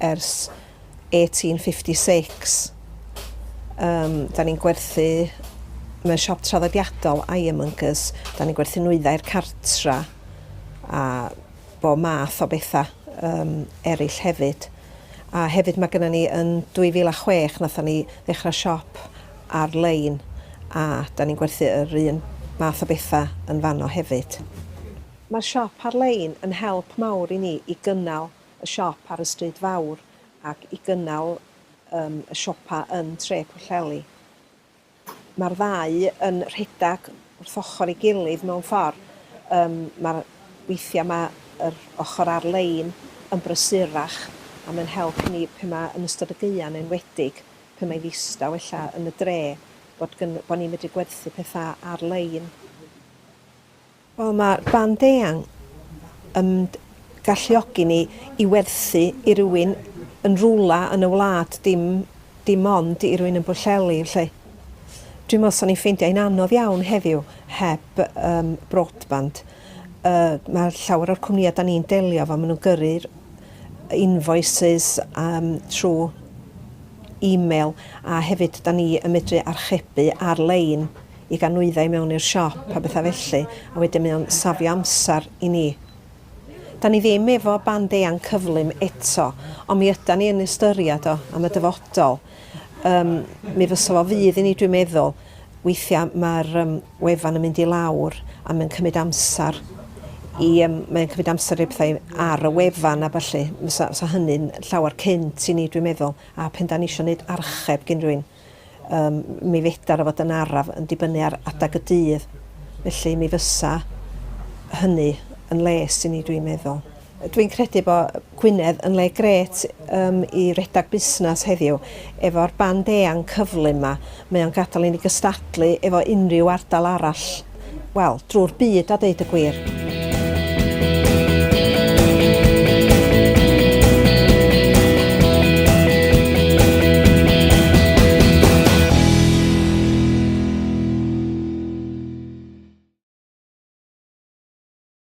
ers 1856. Yym, 'da ni'n gwerthu mewn siop traddodiadol, ironmongers, 'da ni'n gwerthu nwyddau'r cartra a bob math o betha yym eryll hefyd. A hefyd mae gennym ni yn 2006 wnaethon ni ddechrau siop ar-lein a 'da ni'n gwerthu yr un math o betha yn fanno hefyd. Mae'r siop ar-lein yn help mawr i ni i gynnal y siop ar y Stryd Fawr ac i gynnal um, y siopa yn Tre Pwllheli. Mae'r ddau yn rhedeg wrth ochr ei gilydd mewn ffordd. Um, Mae'r weithiau mae yr ochr ar-lein yn brysurach a mae'n help i ni pe mae yn ystod y gaeau yn enwedig pe mae ddistaw ella yn y dre bod, bod ni'n medru gwerthu pethau ar-lein. Wel, mae band eang yn galluogi ni i werthu i rywun yn rywle yn y wlad, dim dim ond i rywun yn Bwllheli, 'lly. Dwi'n meddwl 'swn i'n ffeindio hi'n anodd iawn heddiw heb yym broadband. Yy mae llawer o'r cwmnïau 'dan ni'n delio efo, maen nhw'n gyrru'r invoices yym trwy e-mail a hefyd 'dan ni yn medru archebu ar-lein. i gael nwyddau i mewn i'r siop a bethau felly, a wedyn mae o'n safio amser i ni. Da ni ddim efo band eang cyflym eto, ond mi ydan ni yn ystyried o am y dyfodol. Um, mi fysa fo fydd i ni, dwi'n meddwl, weithiau mae'r um, wefan yn mynd i lawr a mae'n cymryd amser i, um, mae'n cymryd amser i bethau ar y wefan a falle, fysa, fysa hynny'n llawer cynt i ni, dwi'n meddwl, a pen da ni eisiau gwneud archeb gyn rhywun. Yym, mi fedar o fod yn araf yn dibynnu ar adeg y dydd, felly mi fysa hynny yn les i ni, dwi'n meddwl. Dwi'n credu bo Gwynedd yn le grêt yym i redag busnas heddiw, efo'r band eang cyflym 'ma, mae o'n gadal i ni gystadlu efo unrhyw ardal arall. wel, drwy'r byd a ddeud y gwir.